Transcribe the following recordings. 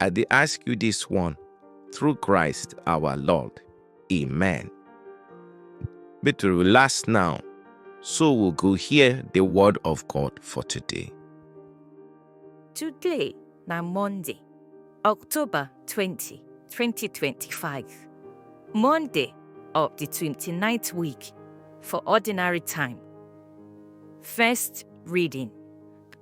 I dey ask you this one through Christ our Lord. Amen. Make to relax now, so we go hear the word of God for today. Today na Monday, October 20, 2025. Monday of the 29th week for ordinary time. First reading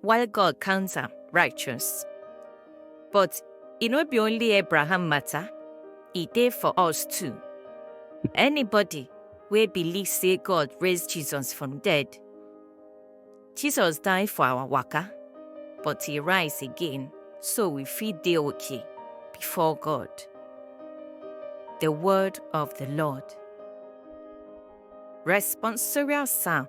While God counts am righteous. But e no be only Abraham matter, e dey for us too. Anybody wey believe say God raise Jesus from dead, Jesus die for our waka, but he rise again so we fit dey okay before God. The word of the Lord. Responsorial Psalm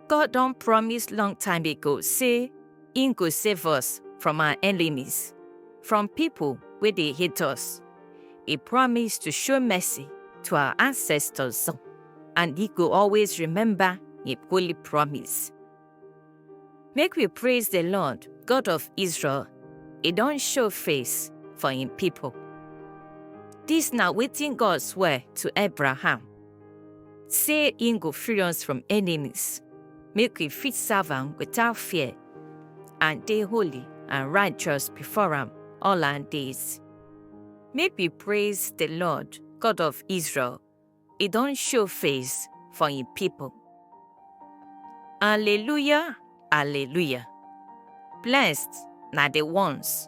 God don promise long time ago say im go save us from our enemies, from people wey dey hate us. He promise to show mercy to our ancestors and he go always remember im holy promise. Make we praise the Lord, God of Israel. He don show face for im people. Dis na wetin God swear to Abraham. Say im go free us from enemies, make we fit serve am without fear, and dey holy and righteous before am all our days. Make we praise the Lord, God of Israel, e don show face for im people. Alleluia, alleluia. Blessed na the ones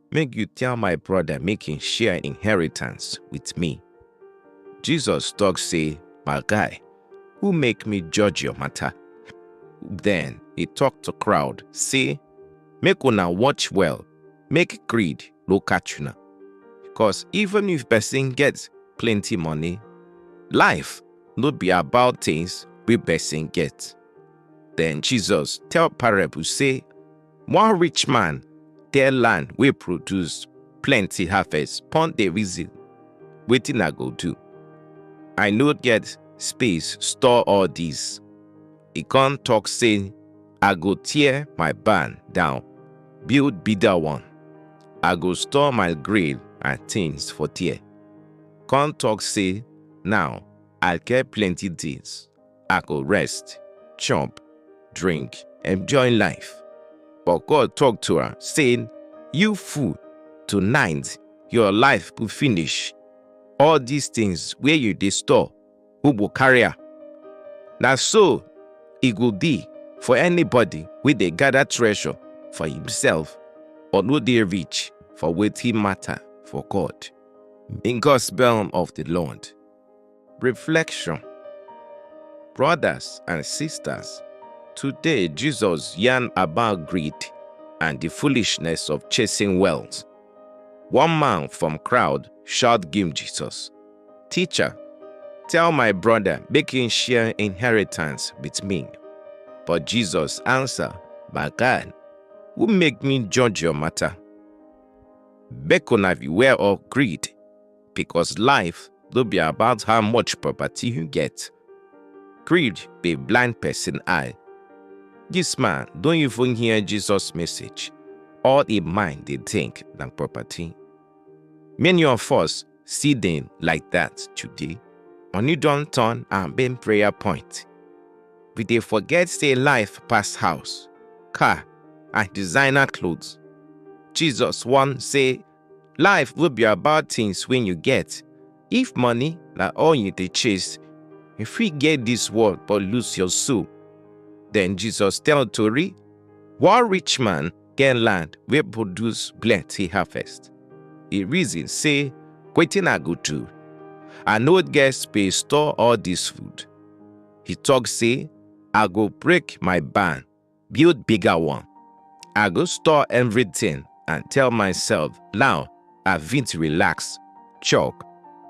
Make you tell my brother make him share inheritance with me. Jesus talk say, My guy, who make me judge your matter? Then he talk to crowd, say, Make una watch well, make greed no catch una. Because even if person gets plenty money, life no be about things we person get. Then Jesus tell parable say, One rich man get land wey produce plenty harvest pon dey reason wetin I go do. I no get space store all dis. E come talk say I go tear my barn down, build bigger one. I go store my grain and things for there. Come talk say now I get plenty things. I go rest, chop, drink, enjoy life. But God talk to her, saying, You fool, tonight your life go finish. All these things where you dey store, who go carry am? Na so e go be for anybody wey dey gather treasure for himself but no dey rich for wetin matter for God. In Gospel of the Lord. Reflection Brothers and sisters, today Jesus yarn about greed and the foolishness of chasing wealth. One man from crowd shout give Jesus, Teacher, tell my brother make him share inheritance with me. But Jesus answer, My God, who make me judge your matter? Make una beware of greed because life no be about how much property you get. Greed dey blind person eye. This man don even hear Jesus message. All im mind dey think na property. Many of us see dem like that today. Money don turn our main prayer point. We dey forget say life pass house, car, and designer clothes. Jesus warn say Life will be about things when you get. If money na all you dey chase, you fit get this world but lose your soul. Then Jesus tell Tori, one rich man get land wey produce plenty harvest. He reason say, wetin I go do? I no get space store all this food. He talk say, I go break my barn build bigger one. I go store everything and tell myself now I fit relax, chop,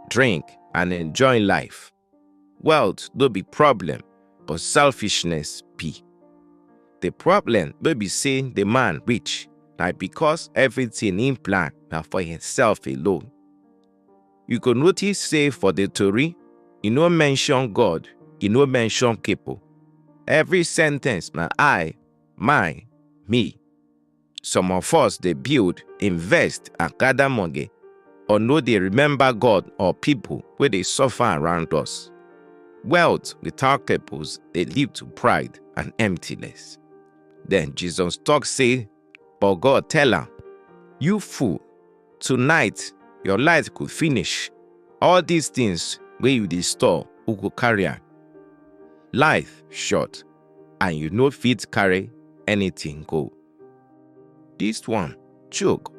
drink and enjoy life. Wealth no be problem but selfishness be. The problem no be say the man rich na because everything im plan na for himself alone. You go notice say for the tori, e no mention God, e no mention people. Every sentence na I, my, me. Some of us dey build, invest and gather money or no dey remember God or people wey dey suffer around us. Wealth without purpose dey lead to pride and emptiness. Then Jesus talk say But God tell am, You fool, tonight your light go finish. All these things wey you dey store, who go carry am? Life short and you no fit carry anything go. This one choke.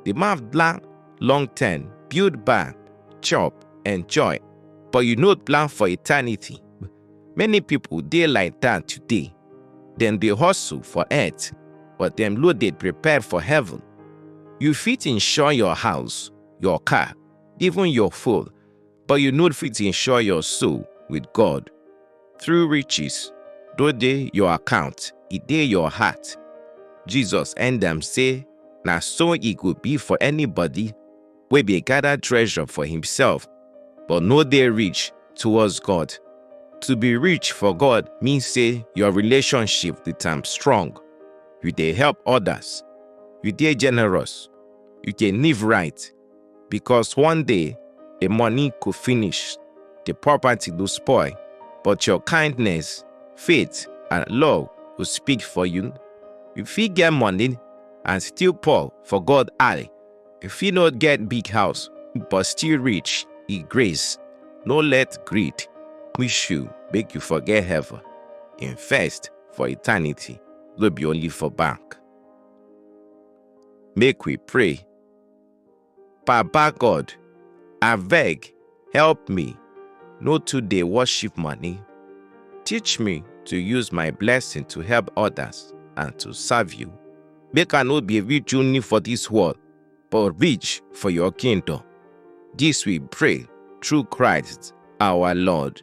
The man plan long term, build barn, chop, enjoy, but you no plan for eternity. Many people dey like that today. Dem dey hustle for earth, but dem no dey prepare for heaven. You fit insure your house, your car, even your phone, but you no fit insure your soul with God. True riches no dey your account, e dey your heart. Jesus end am say, Na so e go be for anybody wey bin gather treasure for himself but no dey rich towards God. To be rich for God mean say your relationship with am strong, you dey help others, you dey generous, you dey live right because one day the money go finish, the property go spoil, but your kindness, faith and love go speak for you. You fit get money and still poor for God eye If you not get big house, but still rich, e grace. No let greed push you make you forget heaven. Invest for eternity, no be only for bank. Make we pray. Baba God, abeg Help me no too dey worship money. Teach me to use my blessing to help others and to serve you. Make I no be rich only for this world, but rich for your kingdom. This we pray through Christ our Lord.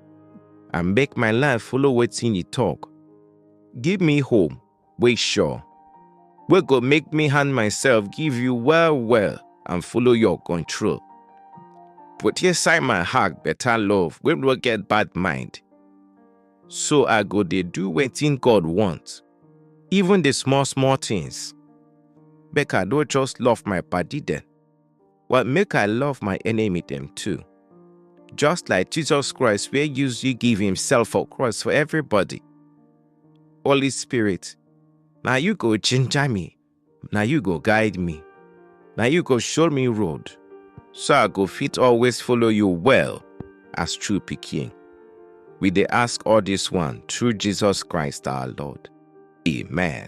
and make my life follow wetin you talk. Give me hope wey sure, wey go make me hand myself give you well well and follow your control. Put inside my heart better love wey no get bad mind. So I go dey do wetin God want, even the small small things. Make I no just love my body dem. Well, make I love my enemy them too. Just like Jesus Christ, where use you give himself for cross for everybody. Holy Spirit, now you go ginger me. Now you go guide me. Now you go show me road. So I go fit always follow you well as true picking. We they ask all this one through Jesus Christ our Lord. Amen.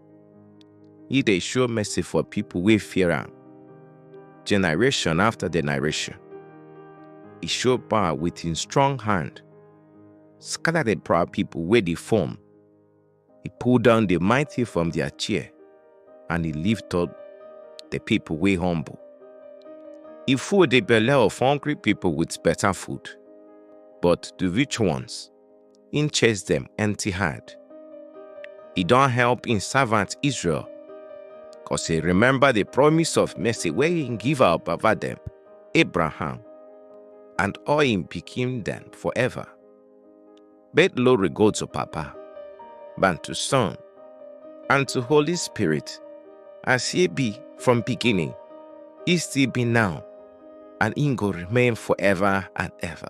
He dey show mercy for people wey fear am, generation after generation. He show power with him strong hand, scatter the proud people wey dey form. He pull down the mighty from their chair, and he lift up the people wey humble. He full the belle of hungry people with better food, but the rich ones im chase dem empty hand. E don help im servant Israel, cos e remember the promise of mercy wey im give our baba dem, Abraham, and all im pikin dem forever. But glory go to Papa, and to Son, and to Holy Spirit, as e be from beginning, e still be now, and im go remain forever and ever.